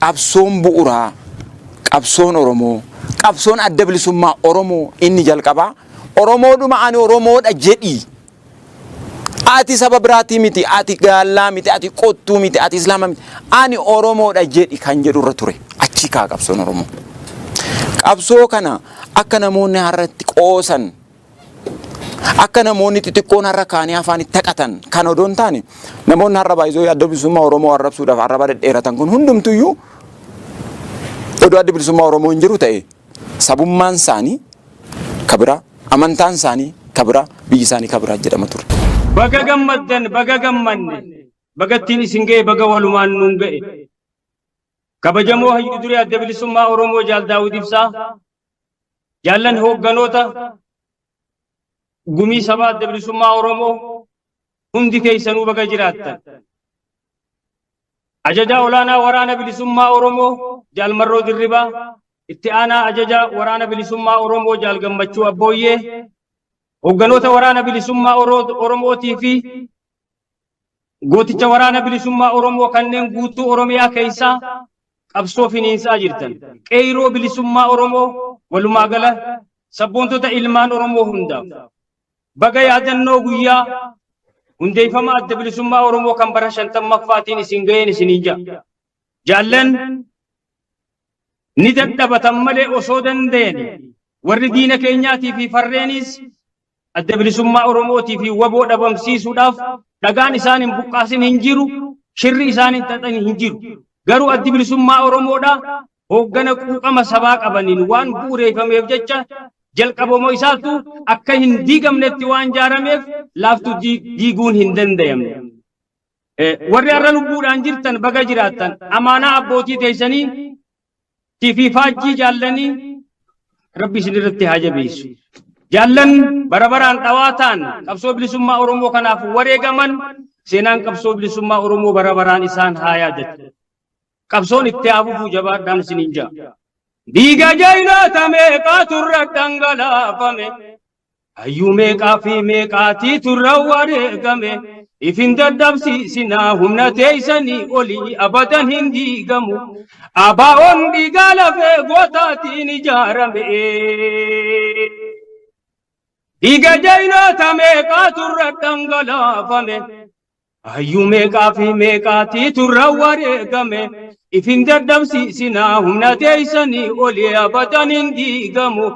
qabsoon bu'uraa qabsoon Oromoo qabsoon adda bilisummaa Oromoo inni jalqabaa Oromoodhuma ani Oromoodha jedhii Ati saba biraatii miti, ati gaallaa miti, ati qottuu miti, ati islaama miti. Ani Oromoodha jedhi kan jedhu irra ture. Achii kaa qabsoon Oromoo. Qabsoo kana akka namoonni har'atti qoosan akka namoonni xixiqqoon har'a kaanii afaan itti haqatan kan odoo hin taane namoonni har'a baay'isoo adda bilisummaa Oromoo arrabsuudhaaf arraba dhedheeratan kun hundumtuyyuu odoo adda bilisummaa Oromoo hin jiru ta'e sabummaan saanii ka biraa, amantaan saanii ka biraa, biyyi saanii ka biraa jedhama ture. Baga gammaddan baga gammanne baga ittiin isin ga'e baga walumaan nuun ga'e kabajamoo hayyu duree adda bilisummaa oromoo jaal daawud ibsaa jaallan hoogganoota gumii sabaa adda bilisummaa oromoo hundi keessanuu baga jiraattan Ajajaa Olaanaa Waraana Bilisummaa Oromoo Jaal Marroo Dirribaa, Itti Aanaa Ajajaa Waraana Bilisummaa Oromoo Jaal Gammachuu Abbooyyee, Hoogganoota Waraana Bilisummaa Oromootii fi gooticha Waraana Bilisummaa Oromoo kanneen guutuu Oromiyaa keessaa qabsoo finiinsaa jirtan, qeeyroo bilisummaa Oromoo walumaa gala sabboontota ilmaan Oromoo hundaaf Baga yaadannoo guyyaa hundeeffama adda bilisummaa Oromoo kan bara 50ffaatiin isin ga'een isiniin ja'a. Jaallan ni dadhabatan malee osoo danda'ani warri diina keenyaatii fi farreenis adda bilisummaa Oromootii fi waboo dhabamsiisuudhaaf dhagaan isaan hin buqqaasin hin jiru, shirri isaan hin xaxan hin jiru. Garuu addi bilisummaa Oromoodhaa hooggana quuqama sabaa qabaniin waan bu'ureeffameef jecha jalqabama isaatu akka hin diigamnetti waan jaarameef laaftu diiguun hin dandayamne. Warri har'a lubbuudhaan jirtan baga jiraattan amaanaa abbootii teessanii tiifii faajjii jaallanii rabbi isin irratti haa jabeessu. Jaallan bara baraan dhawaataan qabsoo bilisummaa Oromoo kanaaf wareegaman seenaan qabsoo bilisummaa Oromoo bara baraan isaan haa yaadatu. Qabsoon itti haa fufuu jabaadhaan isiniin jaa. Dhiiga jaynoota meeqaa turra dhangalaafame. Hayyuu meeqaa fi meeqaatii turra wareegame. Ifin dadhabsiisinaa humna teeysanii olii abadan hin diigamu. Abaa'oon dhiigaa lafee gootaatiin ijaarame. Dhiiga jaynoota meeqaa turra dhangalaafame. Hayyuu meeqaa fi meeqaatii turra wareegame ifin dadhabsiisinaa humna teeysanii olii abadan hin diigamu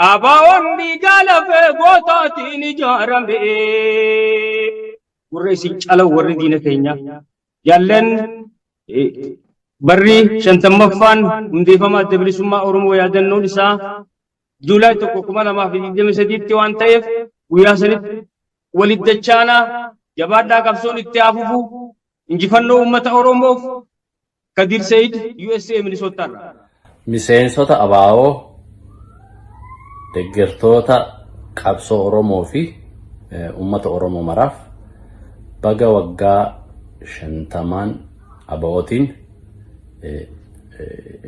ABOn dhiigaa lafee gootaatiin ijaarame. Warra isin cala warri diina keenya jaallan barri shantammaffaan hundeeffama adda bilisummaa Oromoo yaadannoon isaa Juulaay 1,2023tti waan ta'eef guyyaa sanitti Walitti dachaanaa jabaadhaa qabsoon itti haa fufu injifannoo uummata oromoof Kadir Said USA Minnesota irraa. Miseensota abo, deggertoota qabsoo Oromoo fi uummata Oromoo maraaf baga waggaa shantamaan ABOtiin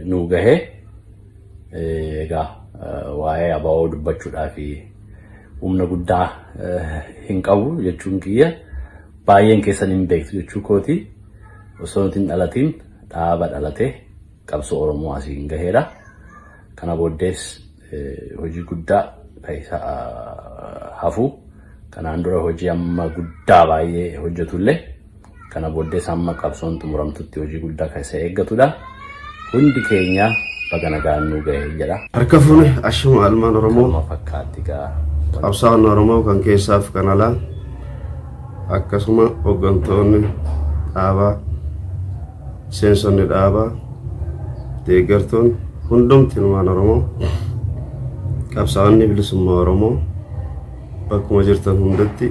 nu gahe. Egaa waa'ee abaa'oo dubbachuudhaaf humna guddaa hin qabu jechuun kiyya baay'een keessan hin beektu jechuu kooti osoo nuti hin dhalatiin dhaaba dhalatee qabsoo Oromoo asiin gaheedha. Kana booddees hojii guddaa keessa hafu kanaan dura hojii amma guddaa baay'ee hojjetullee Kana booddees amma qabsoon xumuramtutti hojii guddaa kan isa eeggatudha. Hundi keenya baga nagaan nu gahe jedha. Harka fuune ashuma almaan Oromoo Akkuma fakkaatti gaa qabsaa'oon Oromoo kan keessaaf kan alaa akkasuma hooggantoonni dhaabaa seensonni dhaabaa deeggartoon hundumti ilmaan Oromoo qabsaa'onni bilisummaa Oromoo Bakkuma jirtan hundatti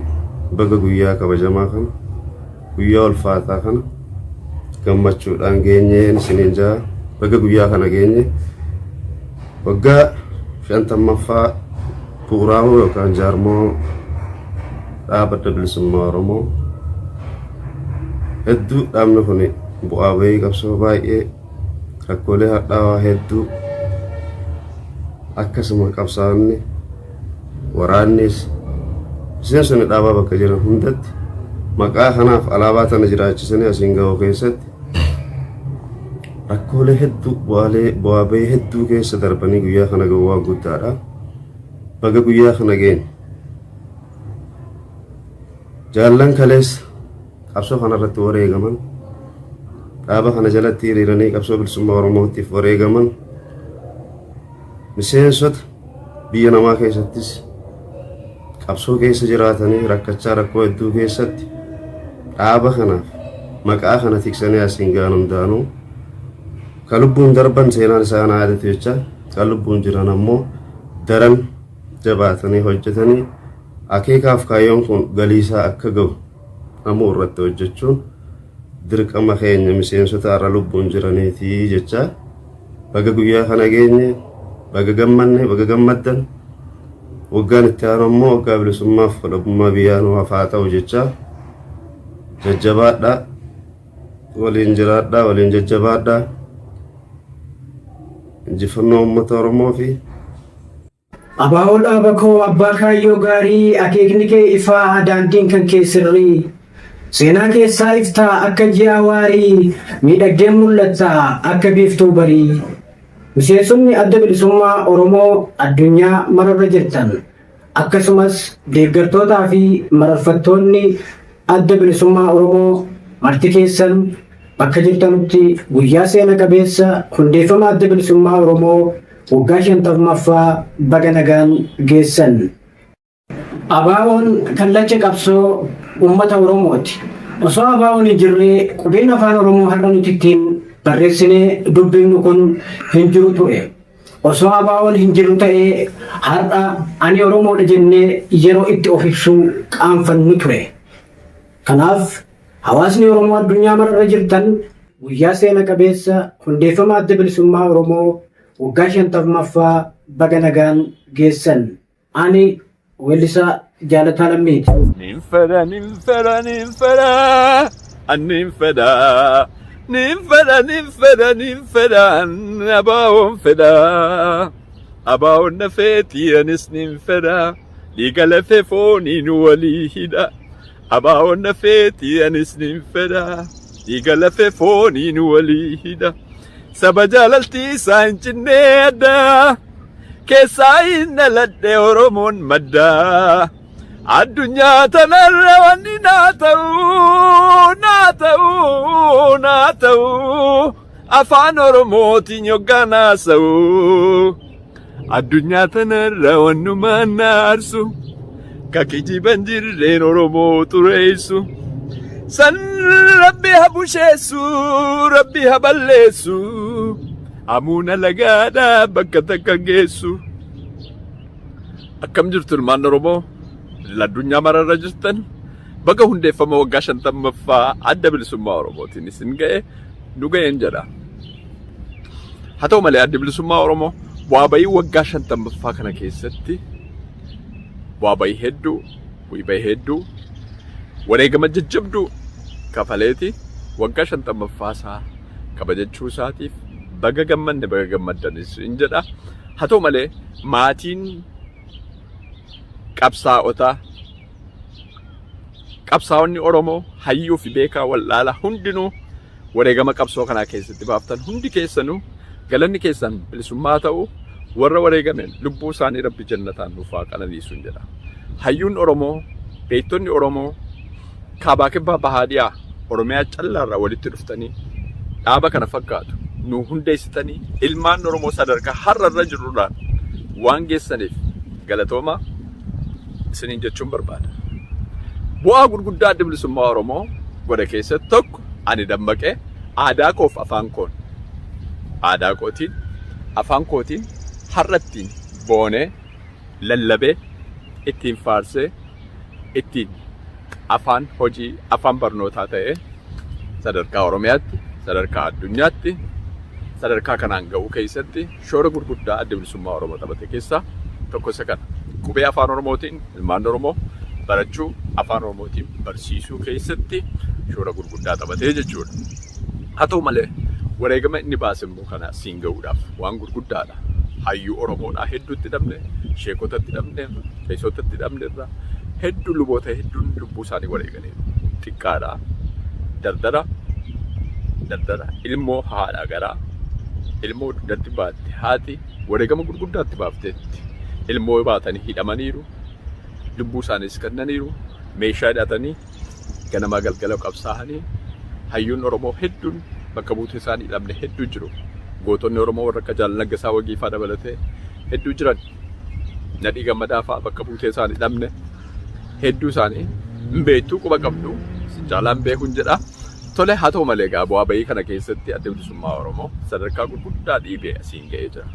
baga guyyaa kabajamaa kana guyyaa ulfaataa kana gammachuudhaan geenyeen isiniin jaa baga guyyaa kana geenye waggaa shantammaffaa bu'uuraawoo yookaan jaarmoo dhaaba adda bilisummaa Oromoo hedduu dhaabni kun bu'aa bahii qabsoo baay'ee Rakkoolee hadhaawaa hedduu akkasuma qabsaa'onni waraannis miseensonni dhaabaa bakka jiran hundatti maqaa kanaaf alaabaa tana jiraachisanii asiin ga'u keessatti rakkoolee hedduu bu'aalee bu'aa bahii hedduu keessa darbanii guyyaa kana ga'u waan guddaadha. Baga guyyaa kana geenye. Jaallan kaleessa qabsoo kana irratti wareegaman dhaaba kana jalatti hiriiranii qabsoo bilisummaa oromootiif wareegaman miseensota biyya namaa keessattis qabsoo keessa jiraatanii rakkachaa rakkoo hedduu keessatti dhaaba kanaaf maqaa kana tiksanii asiin ga'an hundaanuu kan lubbuun darban seenaan isaa na yaadatu jecha kan lubbuun jiran ammoo daran jabaatanii hojjetanii akeekaaf kaayyoon kun galiisaa akka ga'u amuu irratti hojjechuun dirqama keenya miseensota har'a lubbuun jiraniitii jecha baga guyyaa kana geenye baga gammanne baga gammaddan waggaan itti aanu ammoo waggaa bilisummaaf walabummaa biyyaa nu hafaa ta'u jecha jajjabaadhaa waliin jiraadhaa waliin jajjabaadhaa injifannoo uummata Oromoo fi Abaawoo dhaaba koo abbaa kaayyoo gaarii akeekni kee ifaa daandiin kan kee sirrii Seenaa keessaa ifta akka ji'aa waarii miidhagdeen mul'atta akka biiftuu barii Miseensonni Adda Bilisummaa Oromoo addunyaa mararra jirtan akkasumas deeggartootaa fi mararfattoonni Adda Bilisummaa Oromoo marti keessan bakka jirtanutti guyyaa seena qabeessa hundeeffama Adda Bilisummaa Oromoo Waggaa 50ffaa baga nagaan geessan! ABOn kallacha qabsoo ummata Oromooti. Osoo ABOn hin jirre qubeen Afaan Oromoo har'a nuti ittiin barreessinee dubbifnu kun hin jiru ture. Osoo ABOn hin jiru ta'ee har'a ani Oromoodha jennee yeroo itti of ibsuu qaanfannu ture. Kanaaf Hawaasni Oromoo addunyaa mara irra jirtan guyyaa seena qabeessa hundeeffama Adda Bilisummaa Oromoo waggaa 50ffaa baga nagaan geessan. Ani Weellisaa Jaalataa Lammiiti. Nin fedha, nin fedha, nin fedha, an nin fedha. Nin fedha, nin fedha, nin fedha, an abaawoon fedha. Abaawoon na feeti, anis nin fedha. Dhiiga lafee fooniin walii hidha. Abaawoon nafeeti anis nin fedha. Dhiiga lafee fooniin walii hidha. Saba jaalaltii isaa hin cinnee adda. Keessaa hin dhaladhe Oromoon madda. Addunyaa tanarra wanni naa ta'u, naa ta'u, naa ta'u. afaan oromootiin yoggaan haasa'u addunyaa tanarra wannumaan na aarsu ka kijiban jirreen oromoo xureessu san rabbi ha busheessu rabbi ha balleessu amuuna lagaadha bakka takka geessu akkam jirtu ilmaan oromoo addunyaa mararra jirtan Baga hundeeffama waggaa 50ffaa adda bilisummaa Oromootiin isin ga'e nu ga'een jedha. Haa ta'u malee addi bilisummaa Oromoo bu'aa bayii waggaa 50ffaa kana keessatti bu'aa bayii hedduu, bu'ii bayii hedduu, wareegama jajjabduu kafaleeti waggaa 50ffaa isaa kabajachuu isaatiif baga gammanne baga gammaddanis in jedha. Haa ta'u malee maatiin qabsaa'otaa qabsaa'onni Oromoo hayyuu fi beekaa wal'aala hundinuu wareegama qabsoo kanaa keessatti baaftan hundi keessanuu galanni keessan bilisummaa ta'u warra wareegamen lubbuu isaanii rabbi jannataan nuuf haa qananiisuun jedha. Hayyuun Oromoo, beektonni Oromoo, kaabaa kibbaa bahaa dhiyaa Oromiyaa callaarraa walitti dhuftanii dhaaba kana fakkaatu nu hundeessitanii ilmaan Oromoo sadarkaa har'a irra jirrurraan waan geessaniif galatoomaa isiniin jechuun barbaada. Bu'aa gurguddaa adda bilisummaa Oromoo godhe keessatti tokko ani dammaqee aadaa koof afaan koon aadaa kootiin afaan kootiin har'attiin boonee lallabee, ittiin faarsee, ittiin afaan hojii, afaan barnootaa ta'ee sadarkaa Oromiyaatti, sadarkaa addunyaatti sadarkaa kanaan ga'uu keessatti shoora gurguddaa Adda Bilisummaa Oromoo taphate keessaa tokko isa kana. Qubee Afaan Oromootiin ilmaan Oromoo barachuu, Afaan Oromootiin barsiisuu keessatti shoora gurguddaa taphatee jechuudha. Haa ta'u malee wareegama inni baase immoo Rakkoo kana siin ga'uudhaaf waan gurguddaadha. Hayyuu Oromoodhaa hedduu itti dhabne, sheekota itti dhabneerra, qeesota itti dhabneerra, hedduu luboota hedduun lubbuu isaanii wareeganiiru. Xiqqaadha. Dardara, dardara ilmoo haadha garaa, ilmoo dugdatti baatte haati wareegama gurguddaa itti baafteetti. Ilmoo baatanii hidhamaniiru, lubbuu isaaniis kennaniiru, meeshaa hidhatanii Ganamaa galgala qabsaahanii hayyuun Oromoo hedduun bakka buutee isaanii dhabne hedduu jiru. Gootonni Oromoo warra akka Jaal Naggasaa Wagii faa dabalatee hedduu jiran. Nadhii Gammadaa faa bakka buutee isaanii dhabne hedduu isaanii hin beektuu quba qabdu isin caalaa hin beekun jedha. Tole, haa ta'u malee egaa bu'aa ba'ii kana keessatti Addi Bilisummaa Oromoo sadarkaa gurguddaa dhiibee asiin ga'ee jira.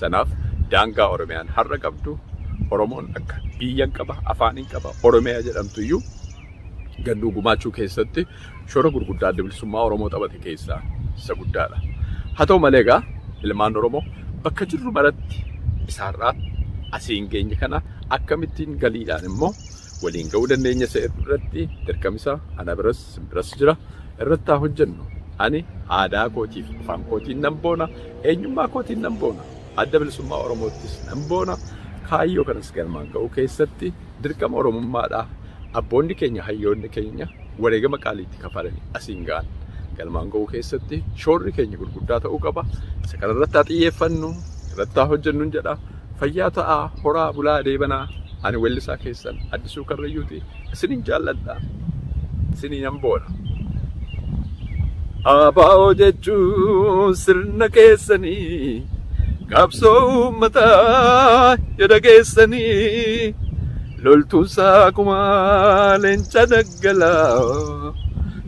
Sanaaf daangaa Oromiyaan har'a qabdu Oromoon akka biyyan qaba, afaanin qaba, Oromiyaa jedhamtuyyuu gannuu gumaachuu keessatti shoora gurguddaa Addi Bilisummaa Oromoo taphate keessaa isa guddaadha. Haa ta'u malee egaa ilmaan Oromoo bakka jirru maratti isa har'aa asiin geenye kana akkamittiin galiidhaan immoo waliin ga'uu dandeenya isa jedhu irratti dirqamisa ana biras isin biras jira irratti haa hojjennu ani aadaa kootiif afaan kootiin nan boona eenyummaa kootiin nan boona adda bilisummaa oromoottis nan boona kaayyoo kanas galmaan ga'uu keessatti dirqama oromummaadha abboonni keenya hayyoonni keenya wareegama qaaliitti kafalanii asiin ga'an galmaan ga'uu keessatti shoorri keenya gurguddaa ta'uu qaba isa kanarratti haa xiyyeeffannu irratti haa hojjennu jedha Fayyaa ta'aa horaa bulaa deebanaa ani wellisaa keessan Addisuu Karrayyuuti isinin jaalladha isinii nan boona. Abaa'oo jechuun sirna keessanii qabsoo uummataa yada keessanii loltuun saakumaa leenca daggalaa.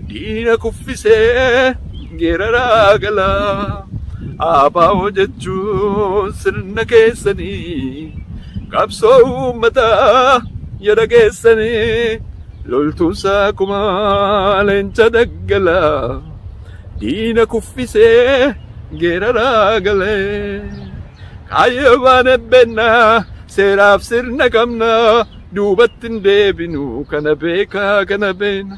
Diina kuffisee geeraraa gala. ABO jechuun sirna keessanii. Qabsoo uummataa yoo dhageessanii. Loltuun saakuma leenca daggala. Diina kuffisee geeraraa gale. Kaayyoo baane beenna seeraaf sirna qabna. Duubatti hin deebinu kana beekaa kana beena.